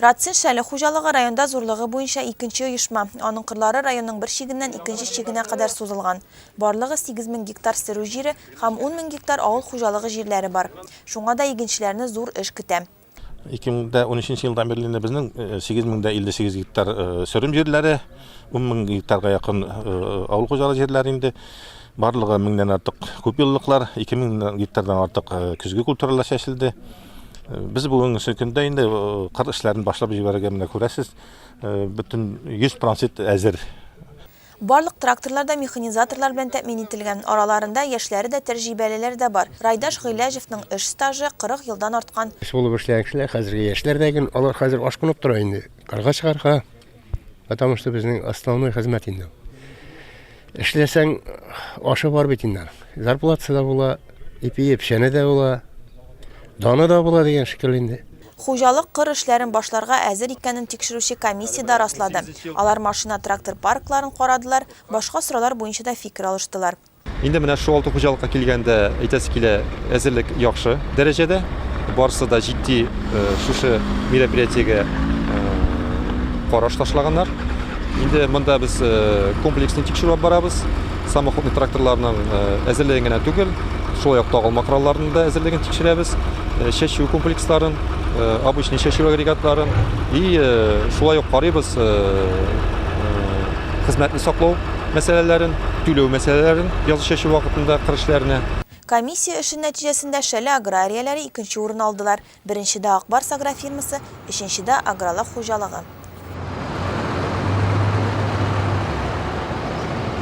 Рацин шәле хуҗалыгы районда зурлыгы буенча икенче оешма, аның кырлары районның бер чигеннән икенче чигенә кадәр сузылган. Барлыгы 8 мең гектар сөрү җире һәм 10 мең гектар авыл хуҗалыгы җирләре бар. Шуңа да игенчеләрне зур эш көтә. 2013 елдан бирле инде безнең 8 мең дә 58 гектар сөрем җирләре, 10 мең гектарга якын авыл хуҗалыгы җирләре инде. Барлыгы меңнән артык күпьеллыклар, 2 мең гектардан артык көзге культуралар чәчелде. Без бүгенге көндә инде э, кыр эшләрен башлап җибәрергә менә күрәсез, э, бөтен 100 пронсит әзер. Барлык тракторлар да механизаторлар белән тәэмин ителгән. Араларында яшьләре дә, тәҗрибәлеләре дә бар. Райдаш Гыйләҗевның эш стажы 40 елдан арткан. Эш булып эшләгән кешеләр, хәзерге яшьләр дә гел, алар хәзер ашкынып тора инде. Карга чыгарга, Потому что безнең основной хезмәт инде. Эшләсәң, ашы бар бит инде. Зарплатасы да була, ипие печәне дә була, даны да була дигән шикелле инде. Хуҗалык кыр эшләрен башларга әзер икәнен тикшерүче комиссия дә раслады. Алар машина-трактор паркларын карадылар, башка сораулар буенча да фикер алыштылар. Инде менә шул алты хуҗалыкка килгәндә әйтәсе килә, әзерлек яхшы дәрәҗәдә. Барысы да җитди э, шушы мероприятиегә э, караш ташлаганнар. Инде монда без э, комплексный тикшерү алып барабыз. Самоходный тракторларның әзерлеген генә түгел, шулай ук тагылма коралларының да әзерлеген тикшерәбез. Чәчү комплексларын, обычный чәчү агрегатларын и шулай ук карыйбыз хезмәтне саклау мәсьәләләрен, түләү мәсьәләләрен, язгы чәчү вакытында кыр эшләренә. Комиссия эше нәтиҗәсендә Шәле аграрияләре икенче урын алдылар, беренчедә Ак Барс агрофирмасы, өченчедә Агролак хуҗалыгы.